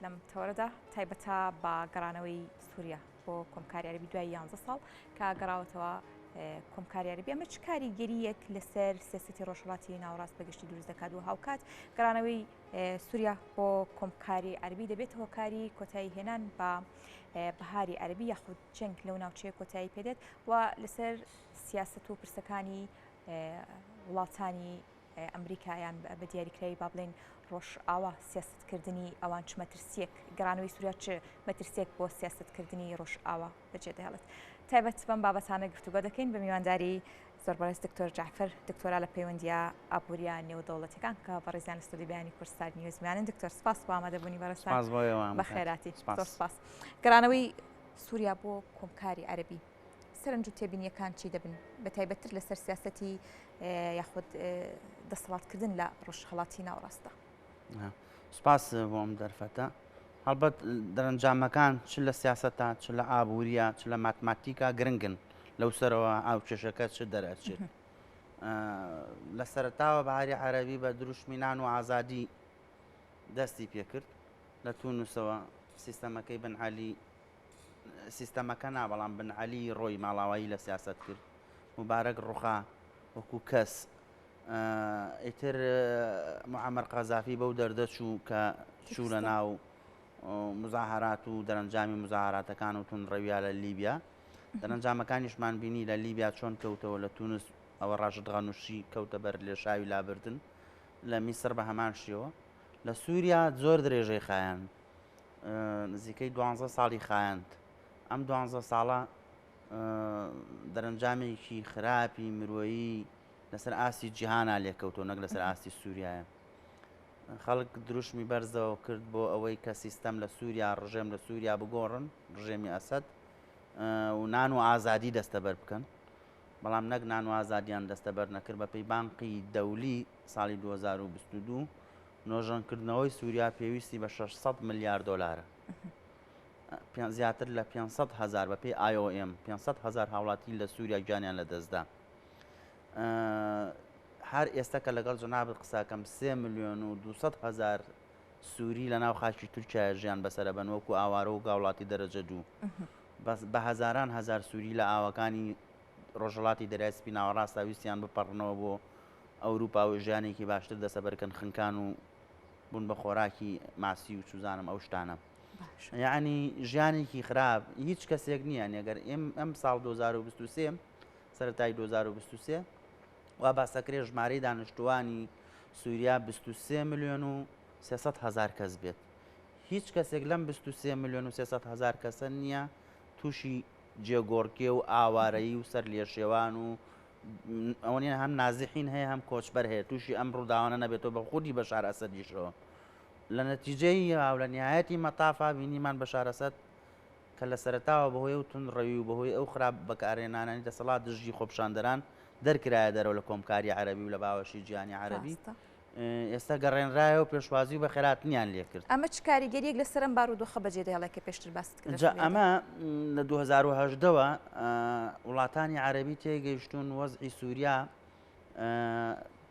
لەم تەوەرەدا تایبەتە بە گەڕانەوەی سووریا بۆ کۆمکاری عەرەبی دوای یانزە ساڵ کە گەڕاوەتەوە کۆمکاری عەرەبی ئەمە چ کاریگەریەک لەسەر سیاسەتی ڕۆژهەڵاتی ناوڕاست بەگشتی دروست دەکات و هاوکات گەڕانەوەی سووریا بۆ کۆمکاری عەربی دەبێت هۆکاری کۆتایی هێنان بە بەهاری عەربی یاخود جەنگ لەو ناوچەیە کۆتایی پێدێت و لەسەر سیاست و پرسەکانی وڵاتانی ئەمریکا یان بە دیاریکراوی با بڵێین ڕۆژئاوا سیاستکردنی ئەوان چ مەترسیەک گەڕانەوەی سووریا چ مەترسیەک بۆ سیاستکردنی ڕۆژئاوا بەجێ دەهێڵێت تایبەت بەم بابەتانە گفتوگۆ دەکەین بە میوانداری زۆر بەڕێز دکتۆر جعفر دکتۆرا لە پەیوەندیە ئابووریە نێودەوڵەتەکان کە بەڕێزیان لە ستۆدی بیانی کوردستان نیوزمانن دکتۆر سپاس بۆ ئامادەبوونی بەڕێستان بەخێراتی سپاس گەڕانەوەی سووریا بۆ کۆمکاری عەربی سەرنج و تێبینیەکان چی دەبن بە تایبەتتر لەسەر سیاستی یاخود دەسەڵاتکردن لە ڕژهڵاتی ناوڕاستە سپاس بۆم دەرفەتە هەڵبەت دەرەنجامەکان چ لە سیاستە چ لە ئابووریە چ لە ماتماتیکا گرنگن لەو سەرەوە ئاو کێشەکە چ دەرەچێت لە سەرتاوە بەهاری عەربی بە دروشمی نان و ئازادی دەستی پێکرد لە تونوسەوە سیستەمەکەی بنعالی سیستەمەکە نا، بەڵام بن عەلی ڕۆی ماڵاوایی لە سیاسەت کرد، موبارەک ڕوخا وەکو کەس، ئیتر معەمەر قەزافی بەو دەردە چوو کە چوو لە ناو مزاهرات و دەرەنجامی مزاهراتەکان و تون ڕەویا لە لیبیا دەرەنجامەکانیشمان بینی لە لیبیا چۆن کەوتەوە لە تونس ئەوە ڕاشت غەنوشی کەوتە بەر لێشاوی لابردن لە میسر بە هەمان شێوە لە سووریا زۆر درێژەی خایەن نزیکەی دوانزە ساڵی خایاند. ئەم دوانزە ساڵە دەرەنجامێکی خراپی مرۆیی لەسەر ئاستی جیهانا لێکەوتەوە نەک لەسەر ئاستی سووریایە. خەڵک دروشمی بەرزەوە کرد بۆ ئەوەی کە سیستەم لە سووریا ڕژێم لە سووریا بگۆڕن ڕژێمی ئەسەد و نان و ئازادی دەستەبەر بکەن. بەڵام نەک نان و ئازادیان دەستەبەر نەکرد بەپێی بانقی دەولی ساڵی 2022 نۆژەنکردنەوەی سوریا پێویستی بە شەش سەد ملیار دۆلارە. زیاتر لە پێنج سەد هەزار، بەپێی IOM، پێنج سەد هەزار هاوڵاتی لە سوریا گیانیان لەدەستدا. هەر ئێستا کە لەگەڵ جەنابت قساکەم سێ ملیۆن و دوو سەد هەزار سووری لە ناو خاکی تورکایە ژیان بەسەرە بەن وەکو ئاوارە و گاوڵاتی دەرەجە دوو بە هەزاران هەزار سووری لە ئاوەکانی ڕۆژهڵاتی دەرای سپی ناوەڕاستە ویستیان بپەڕنەوە بۆ ئەوروپا و ژیانێکی باشتر دەسەبەرکەن خنکان و بون بە خۆراکی ماسی و چوزانم ئەو شتانە یعنی ژیانێکی خراپ هیچ کەسێک نییە نێگەر ئێم ئەم ساڵ 2023 سەرای 2023 وا باسەکرێ ژمارەی دانیشتوانی سووریا 23 میلیۆن و 300 هزار کەس بێت هیچ کەسێک لەم 23 میلیۆن و 300 هزار کەسە نییە تووشی جێگۆڕکێ و ئاوارەیی و سەر لێشێوان و ئەوەنیە هەم نازحین هەیە هەم کۆچبەر هەیە توشی ئەم ڕوداوانە نەبێت و بە خودی بەشار ئەسەدیشەوە لە نەتیجەی و لە نیایەتی مەتافا بینیمان بەشار ئەسەد کە لە سەرەتاوە بەهۆی و تون ڕەوی و بەهۆی ئەو خراپ بەکارهێنانانی دەسەڵات دژی خۆپشاندەران دەرکرایە دەرەوە لە کۆمکاری عەرەبی و لە باوەشی جیهانی عەرەبی ئێستا گەڕێنرایەوە پێشوازی و بە خێراتنیان لێ کرد. ئەمە چ کاریگەریەک لەسەر ئەم بارودۆخە بەجێ دەهێڵێت کە پێشتر باست کرد؟ جا ئەمە لە دوو هەزار و هەژدە وە وڵاتانی عەرەبی تێگەیشتوون وەزعی سووریا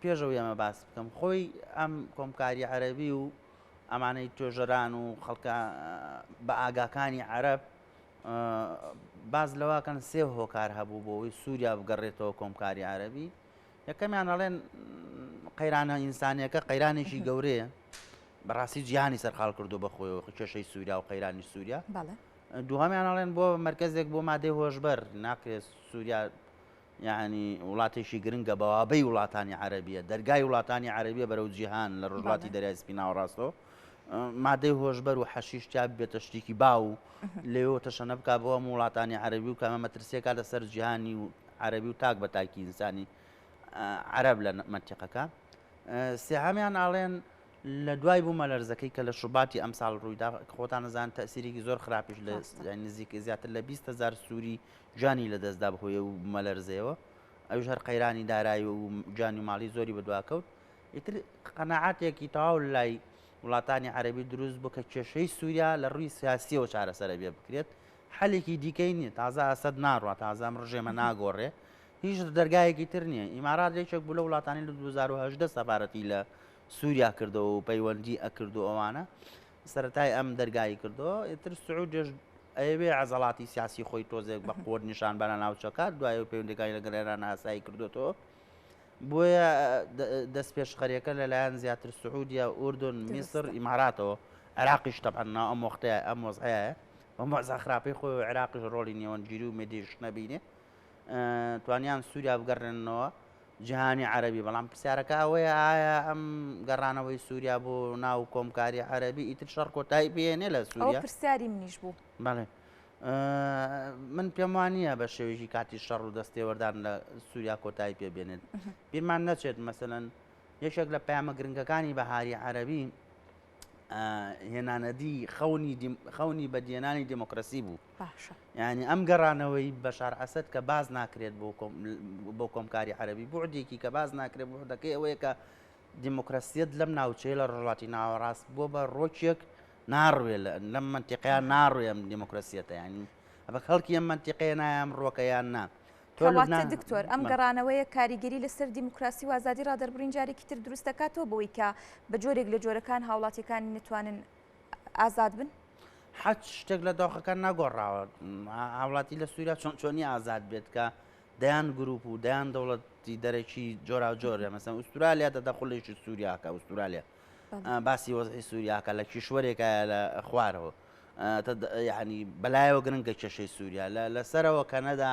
پێشەوەی ئەمە باس بکەم خۆی ئەم کۆمکاری عەرەبی و ئەمانەی توێژەران و خەڵکە بە ئاگاکانی عەرب باز لەواکەن سێ هۆکار هەبوو بۆەوەی سووریا بگەڕێتەوە کۆمکاری عەربی یەکەمیان ئەڵێن قەیرانە ئینسانیەکە قەیرانێکی گەورەیە بەڕاستی جیهانی سەرقال کردو بە خۆیەوە کێشەی سووریا و قەیرانی سووریا دوهامیان ئەڵێن بۆ مرکزێک بۆ مادەی هۆشبەر ناکرێت سووریا یعنی وڵاتێکی گرنگە بەوابەی وڵاتانی عربیە دەرگای وڵاتانی عربیە بەرەو جیهان لە ڕژاتی دەریای سپیناوەڕاستەوە مادەی هۆشبەر و حەشیش تیا ببێتە شتێکی باو و لەوێەوە تەشەنە بک بۆ هەموو وڵاتانی عەربی و کامە مەترسیەکە لەسەر جیهانی و عەربی و تاک بە تاکی ئینسانی عەرب لە منتیقەکە سێهامیان ئاڵێن لە دوای بوو مەلەرزەکەی کە لە شوباتی ئەمساڵ ڕوویدا خۆتان نزان تەسیرێکی زۆر خراپیش لە نزیک زیاتر لە 20 هزار سووری جانی لە دەستدا بهۆیە و مەلەرزەیەوە ئەوش هەر قەیرانی دارایی و جانی ماڵی زۆری بەدواکەوت ئیتر قەناعەتێکی تەواو لای وڵاتانی عەرەبی دروست بوو کە کێشەی سووریا لە ڕووی سیاسییەوە چارەسەر ئەبێ بکرێت، حەلێکی دیکەی نییە، تازە ئەسەد ناڕوا، تازە ئەم ڕژێمە ناگۆڕێ، هیچ دەرگایەکی تر نییە، ئیمارات یەکێک بوو لەو وڵاتانەی لە دوو هەزار و هەژدە سەفارەتی لە سووریا کردەوە و پەیوەندی ئەکرد و ئەوانە سەرەتای ئەم دەرگایی کردەوە، ئیتر سعودیەش ئەیەوێ عەزەڵاتی سیاسی خۆی تۆزێک بە قووت نیشان بە لە ناوچەکە، دوای ئەوەی پەیوەندیەکانی لەگەڵ ئێران ئاسایی کردووەتەوە. بۆیە دەستپێشخەریەکە لەلایەن زیاتر سعودیە، ئوردن، میسر، ئیماراتەوە، عێراقیش تەبعەن نا ئەم وەختەیە ئەم وەزعەیە بەم وەزا خراپەی خۆی و عێراقیش ڕۆڵی نێوەندگیری و مێدیش نەبینێ توانیان سووریا بگەڕێننەوە جیهانی عەربی بەڵام پرسیارەکە ئەوەیە ئایا ئەم گەڕانەوەی سووریا بۆ ناو کۆمکاری عەربی ئیتر شەڕ کۆتایی پێێنێ لە سووریا پرسیاری منیش بوو بەڵێ من پێم وا نییە بە شێوەیەکی کاتی شەڕ و دەستێوەردان لە سووریا کۆتایی پێ بێنێت بیرمان نەچێت مەسەەن یەکێک لە پامە گرنگەکانی بەهاری عەربی هێنانەدی خەونی خەونی بەدیێنانی دموکراسی بوو ینی ئەم گەڕانەوەی بەشار ئەسد کە باز ناکرێت بۆ کۆمکاری عەربی بۆ عدێکی کە باز ناکرێت بۆ دەکەی ئەوەیە کە دیموکراسیەت لەم ناوچەیە لە ڕۆژهەڵاتی ناوەڕاست بووە بە ڕۆکیەک ناڕوێ لە لەم منتیقەیە ناڕوێ ئەم دیموکراسیەتە یانی ئەبە خەڵکی ئەم منتیقەیە نایەم ڕۆکەیان نا کەواتە دکتۆر ئەم گەڕانەوەیە کاریگەری لەسەر دیموکراسی و ئازادی ڕادەربڕین جارێکی تر دروست دەکاتەوە بەوەی کە بە جۆرێک لە جۆرەکان هاوڵاتیەکانی نتوانن ئازاد بن حەج شتێک لە داخەکان ناگۆڕاوە هاوڵاتی لە سووریا چۆن چۆنی ئازاد بێت کە دەیان گروپ و دەیان دەوڵەتی دەرەکی جۆراوجۆرە مەسەن ئوسترالیا دە دەخلێکی سووریاکە ئوسترالیا باسی وەزحی سووریاکە لە کیشوەرێکە لە خوارەوە ینی بەلایەوە گرنگە کێشەی سووریا لە لەسەرەوە کەنەدا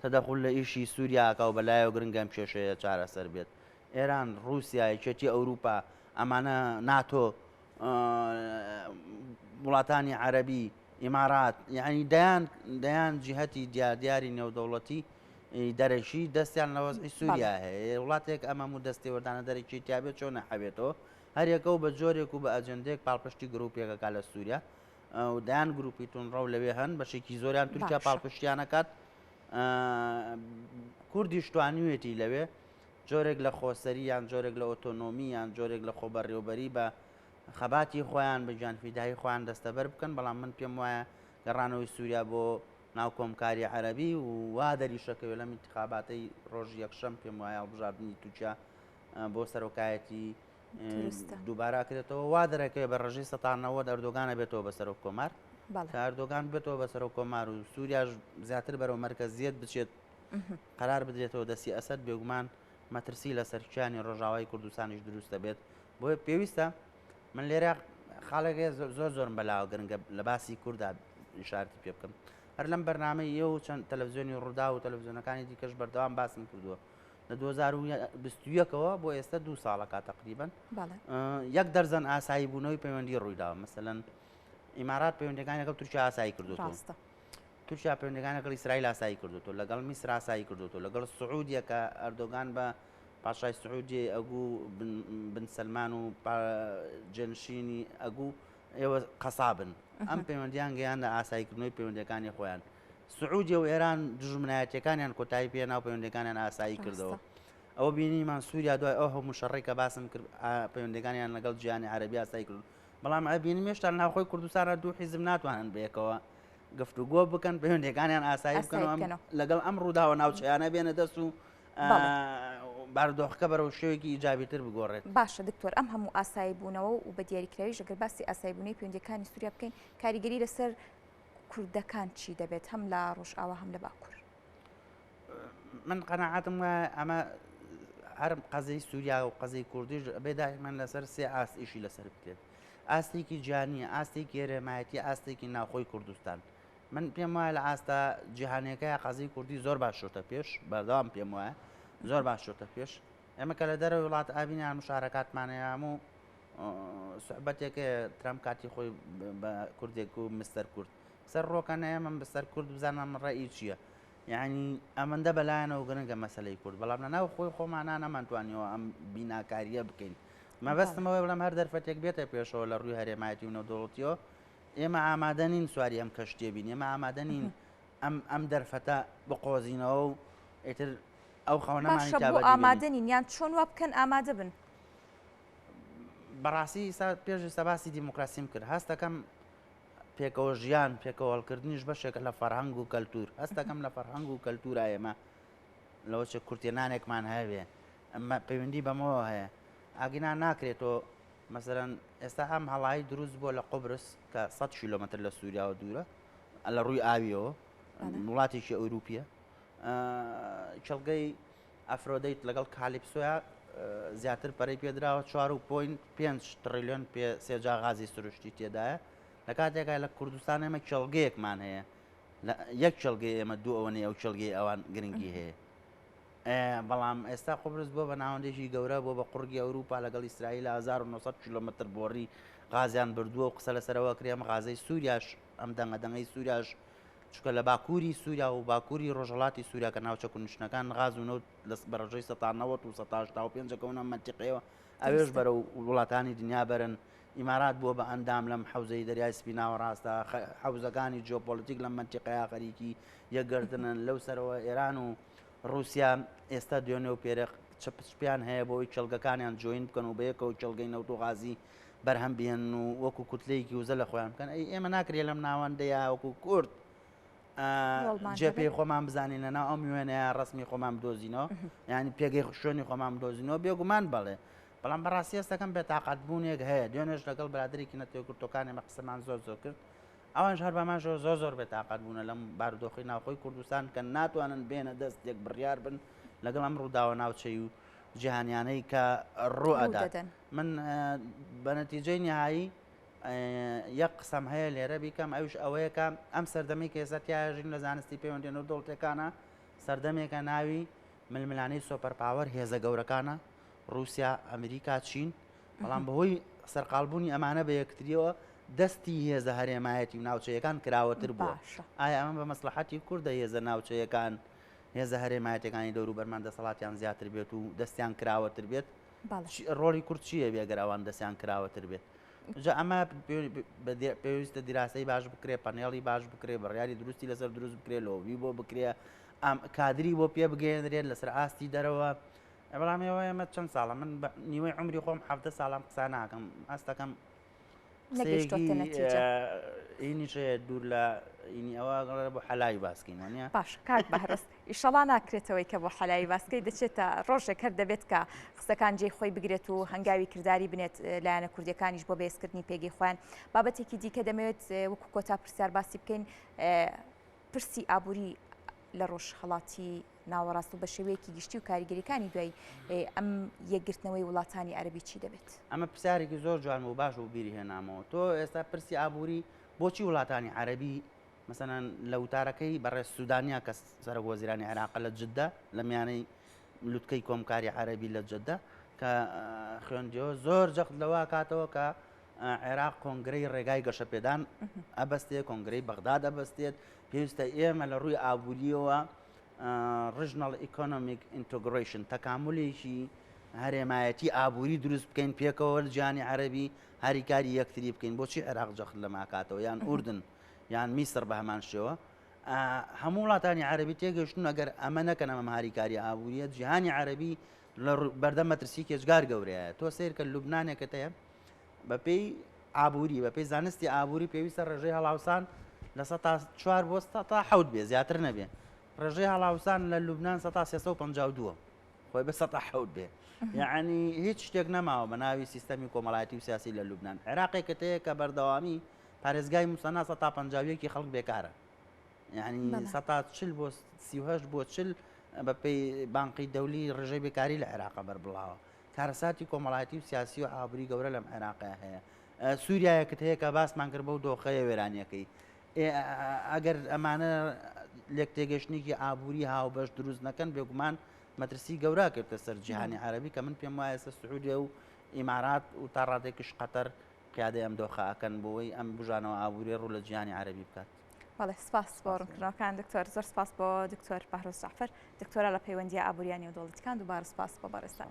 تەدەخل لە ئیشی سووریاکە و بەلایەوە گرنگەم کێشەیە چارەسەر بێت ئێران رووسایەکێتی ئەوروپا ئەمانە ناتۆ وڵاتانی عەرەبی، ئیمارات، یەعنی دەیان دەیان جیهەتی دیار دیاری نێودەوڵەتی دەرەکی دەستیان لە وەزعی سووریا هەیە وڵاتێک ئەمەم و دەستێوەردانە دەرەکی تیاابێت چۆن نەحەوێتەوە هەرێکە و بە جۆرێک و بە ئەجندێک پاڵپشتی گرروپێکەکە لە سووریا و دەیان گروپی تونڕە و لەوێ هەن بەشێکی زۆریان تورکیا پاڵپشتیانەکات کوردیشتوانیوێتی لەوێ جۆرێک لە خۆسەری یان جۆرێک لە ئۆتۆنۆمی یان جۆرێک لە خۆبەڕێوبەری بە خەباتی خۆیان بە گیانفیدایی خۆیان دەستەبەر بکەن بەڵام من پێم وایە گەڕانەوەی سوریا بۆ ناو کۆمکاری عەرەبی و وا دەریشەکەوێ لەم ئینتخاباتەی ڕۆژی یەکشەم پێم وایە هەڵبژاردنی تورکیا بۆ سەرۆکایەتی دووبارە کرێتەوە وا دەرەکەوێ بە ڕژی سەتانەوە دەردۆگانە بێتەوە بە سەرۆک کۆمار کاردۆگان بێتەوە بە سەرۆک کۆمار و سووریاش زیاتر بەرەو مەرکەزیت بچێت قەرار بدرێتەوە دەستی ئەسەد بێگومان مەترسی لەسەر کیانی ڕۆژاوای کوردستانیش دروست دەبێت بۆیە پێویستە من لێرە خاڵێک هەیە زۆر زۆرم بەلاوە گرنگە لە باسی کووردا ئیشارتی پێ بکەم هەر لەم بەرنمەی ئێ و چەند تەلەڤزیۆنی ڕوودا و تەلەڤزیۆنەکانی دیکەش بەردەوام باسم کردووە لە 2021ەوە بۆ ئێستا دوو ساڵە کا تقریبن یەک دەرزەن ئاسایی بوونەوەی پەیوەندی ڕوویداوە مەسەن ئیمارات پەیوەندەکانی لەگەڵ تورکیا ئاسایی کردو ڕاستە تورکیا پەیوەندیەکانی لەگەڵ ئیسرائیل ئاسایی کردۆتەوە، لەگەڵ میسر ئاسایی کردۆتەوە، لەگەڵ سعودیە کە ئەردۆگان بە پاشای سعودیەی ئەگوو بن سەلمان و جێنشینی ئەگوو ئێوە قەسابن ئەم پەیوەندیان گەیاندە ئاساییکردنەوەی پەیوەندەکانی خۆیان سعودیە و ئێران دژمنایەتەکانیان کۆتایی پێ ناو پەیوەندەکانیان ئاسایی کردەوە ئەوە بینیمان سووریا دوای ئەو هەموو شەڕی کە باسم کرد پەیوەندەکانیان لەگەڵ جیانی عربی ئاسایی کرد بەڵام ئەبینی مێشتان ناوخۆی کوردستانە دوو حیزم ناتوانن بێکەوە گفتوگۆ بکەن پەیوەندەکانیان ئاسایی بکەن لەگەڵ ئەم ڕووداوە ناوچەیانە بێنە دەست و باردۆخەکە بەرەو شێوێکی ئیجابی تر بگۆڕێت باشە دکتۆر ئەم هەموو ئاسایی بوونەوە و بە دیاریکراوی ژەگەر باسی ئاسایبوونەی پێوەندەکانی سووریا بکەین کاریگەری لەسەر کوردەکان چی دەبێت هەم لە ڕۆژئاوا هەم لە باکوور من قەنەعاتم ئەمە هەرم قەزەی سووریا و قەزەی کوردیش بێداهمان لەسەر سێ ئاست ئیشی لەسەر بکرێت ئاستێکی جیهانیە ئاستێکی هەرێمایەتی ئاستێکی ناوخۆی کوردستان من پێم وایە لە ئاستە جیهانەکە قازی کوردی زۆر باشۆتە پێش بەردەوام پێم وایە زۆر باشۆتە پێش ئێمە کە لە دەرە وڵات ئابینیان مشارەکاتمانەیەم و سوحبەتێکە ترام کاتی خۆی بە کوردێک و مستەر کورد سەر ڕۆکەنەیە من بەسەر کورد بزانم ڕێی چییە یەعنی ئەمەندە بەلایانەوە گرنگە مەسەلەی کورد، بەڵام لە ناو خۆی خۆمانا نەمانتوانیەوە ئەم بیناکارییە بکەین. مەبەستم ئەوەیە بڵێم هەر دەرفەتێک بێتە پێشەوە لە ڕووی هەرێمایەتی و نێودەوڵەتیەوە ئێمە ئامادە نین سواری ئەم کەشتیە بین، ئێمە ئامادە نین ئەم ئەم دەرفەتە بقۆزینەوە و ئیتر ئەو خەونەمانی تا بەدی بێنین. باشە بۆ ئامادە نین یان چۆن وا بکەن ئامادە بن؟ بەڕاستی ئیستا پێش ئیستا باسی دیموکراسیم کرد هەست دەکەم، پێکەوە ژیان پێکەوە هەڵکردنیش بەشێکە لە فەرهەنگ و کەلتور هەستەکەم لە فەرهەنگ و کەلتورا ئێمە لەوە چ کورتێنانێکمان هەیەێ ئەمە پەیوەندی بەمەوە هەیە ئاگینا ناکرێتەوە مەسەرەن ئێستا ئەم هەڵایی دروست بووە لە قبرس کە 100 کیلومتر لە سووریاوە دوورە لە ڕووی ئاویەوە وڵاتێکی ئەوروپیە کێڵگەی ئەفرۆدەیت لەگەڵ کالیپسۆیا زیاتر پەرەی پێدراوە، چوار و پۆینت پێنج تڕیلیۆن پێ سێجا غازی سروشتی تێدایە، لە کاتێکا لە کوردستان ئێمە کێڵگەیەکمان هەیە، لە یەک کێڵگەی ئێمە دوو ئەوەنەی ئەو کێڵگەی ئەوان گرنگی هەیە. بەڵام ئێستا قوبرس بووە بە ناوەندێکی گەورە، بووە بە قوڕگی ئەوروپا، لەگەڵ ئیسرائیلا هەزار و نۆ سەد کیلۆمەتر بۆڕی غازیان بردووە و قسە لەسەر ئەوە ئەکرێ ئەم غازەی سووریاش ئەم دەنگە دەنگەی سوریاش چونکە لە باکووری سووریا و باکووری ڕۆژهەڵاتی سووریا کە ناوچە کونشنەکان غاز و نەوت لە بەڕژەی سەتا نەوەت و سەتا هەشتا و پێنج دەکەونە مەنتیقەیەوە ئەوێش بەرە و وڵاتانی دنیا بەرن ئیمارات بووە بە ئەندام لەم حەوزەی دەریای سپی ناوەڕاستە حەوزەکانی جیۆپۆلیتیک لەم مەنتیقەیە خەریکی یەکگرتنن لەو سەرەوە ئێران و رووسیا ئێستا دوێنێ و پێرق چپچپیان هەیە بۆی کێڵگەکانیان جوین بکەن و بەیەکەوە کێڵگەی نەوت و غازی بەرهەم بهێنن و وەکو کوتلەیەکی وزە لە خۆیان بکەن ئەی ئێمە ناکرێت لەم ناوەندەیە وەکو کورد جێپی خۆمان بزانین لە ناو ئەم وێنەیە ڕسمی خۆمان بدۆزینەوە ینی پێگەی خوشێنی خۆمان بدۆزینەوە بێگومان بڵێ بەڵام بەڕاستی ئێستەکەم بێتاقات بوونێک هەیە دوێنێش لەگەڵ برادێکی نەتەوە کورتەکانی مە قسەمان زۆر زۆر کرد ئەوان هەر بەمان زۆر زۆر زۆر بێتاقات بوونە لەم بارودۆخی ناوخۆی کوردستان کە ناتوانن بێنە دەست یەک بڕیار بن لەگەڵ ئەم ڕووداوە ناوچەی و جیهانیانەی کە ڕوئەدەن. من بە نەتیجەی نیهایی یەک قسەم هەیە لێرە بیکەم ئەوش ئەوەیەکە ئەم سەردەمی کێسە تیاژین لە زانستی پەیوەندێن و دڵتەکانە سەردەمێکە ناوی ململانەی سۆپەر پاوەەر هێزە گەورەکانە رووسیا ئەمریکا چین بەڵام بەهۆی سەرقالبوونی ئەمانە بە یەکتریەوە دەستی هێزە هەرێمایەتی و ناوچەیەکان کراوەتر بووە ئایا ئەمە بە مەسلحەتی کوردە هێزە ناوچەیەکان هێزە هەرێمایەتەکانی دەورو بەرمان دەسەڵاتیان زیاتر بێت و دەستیان کراوەتر بێت بەڵێ. ڕۆڵی کورد چی دەبێ گەر ئەوان دەستیان کراوەتر بێت؟ جا ئەمە پێویستە دیراسەی باش بکرێ پەنێڵی باش بکرێ بڕیاری دروستی لەسەر دروست بکرێ لۆبی بۆ بکرێ ئەم کادری بۆ پێ بگەێنرێت لەسەر ئاستی دەرەوە ئەبرامی ئەوە ئەمە چەند ساڵە من نیوەی عمری خۆم حفتە ساڵم قسانناکەم ئاستەکەم نەگەیشتۆتە نەتیجە. قسەیەکی ئینیش هەیە دوور لە ئینی ئەوە گەڵێ بۆ حەلای باس کەین وانە؟ باش کاک بەهرەز ئیشەڵا ناکرێتەوەی کە بۆ حەلای باسکەی دەچێتە ڕۆژێک هەر دەبێت کە قسەکان جێی خۆی بگرێت و هەنگاوی کرداری بنێت لایەنە کوردیەکانیش بۆ بەێزکردنی پێگەی خۆیان بابەتێکی دیکە دەمەوێت وەکو کۆتا پرسیار باسی بکەین پرسی ئابووری لە ڕۆژهەڵاتی ناوەڕاست و بە شێوەیەکی گشتی و کاریگەریەکانی دوای ئەم یەکگرتنەوەی وڵاتانی عەربی چی دەبێت ئەمە پرسیارێکی زۆر جوان و باش و بیری هێنامەوە تۆ ئێستا پرسی ئابووری بۆچی وڵاتانی عەربی مەسەەن لە وتارەکەی بەڕێ سوودانیا کە سەرک وەزیرانی عێراقە لە جددا لە میانەی لوتکەی کۆمکاری عەربی لە جددا کە خوێندیەوە زۆر جەخت لەوە کاتەوە کە عێراق کۆنگرەی ڕێگای گەشەپێدان ئەبەستێت، کۆنگرەی بەغداد ئەبەستێت، پێویستە ئێمە لە ڕووی ئابووریەوە ڕژنەڵ ئیکۆنۆمیک ئینتۆگرۆیشن تەکامولێکی هەرێمایەتی ئابووری دروست بکەین پێکەوە جیانی عەربی هاریکاری یەکتری بکەین بۆچی عێراق جەخت لە ماکاتەوە یان ئوردن یان میسر بە هەمان شێوە هەموو وڵاتانی عربی تێگەشتون ئەگەر ئەمە نەکەن ئەمە هاریکاری ئابووریە جیهانی عربی لە بەردەم مەترسییەکی ئێجگار گەورەیە. تۆ سەیر کە لوبنانێکت هەیە بەپێی ئابووری، بەپێی زانستی ئابووری پێویستە ڕێژەی هەڵاوسان لە سەد تا چوار بۆ سەد تا حەوت بێ زیاتر نەبێ. ڕێژەی هەڵاوسان لە لوبنان سەد تا سێ سەد و پەنجا و دووە. خۆی بە سەد تا حەوت بێ. یەعنی هیچ شتێک نەماوە بە ناوی سیستەمی کۆمەڵایەتی و سیاسی لە لوبنان. عێراقێکت هەیە کە بەردەوامی پارێزگای موسەنا سەد تا پەنجا و یەک ی خەڵک بێکارە. یعنی سەتا چل بۆ سی و هەشت بۆ چل بەپێی بانقی دەولی ڕژەی بێکاری لە عێراقە بەربڵاوە کارەساتی کۆمەڵایەتی و سیاسی و ئابری گەورە لەم عێراقی هەیە سووریایەکت هەیە کە باسمان کرد بە و دۆخەیە وێرانیەکەی ئەگەر ئەمانە لێک تێگەشتنێکی ئابووری هاوبەش دروست نەکەن بێگومان مەترسی گەورە کردە سەر جیهانی عربی کە من پێم وایە ئێستا سعودێ و ئیمارات و تا ڕادێکیش قەتەر قیادە ئەم دۆخەکەن بۆی ئەم بژانەوە ئابووری ڕوو لە جیهانی عربی بکات بەڵێ سپاس بۆ ڕوونکردنەوەکان دکتۆر زۆر سپاس بۆ دکتۆر بەهرۆز جعفر دکتۆرە لە پەیوەندی ئابووریانی و دۆڵیتکان دووبارە سپاس بۆ بەڕێزتان.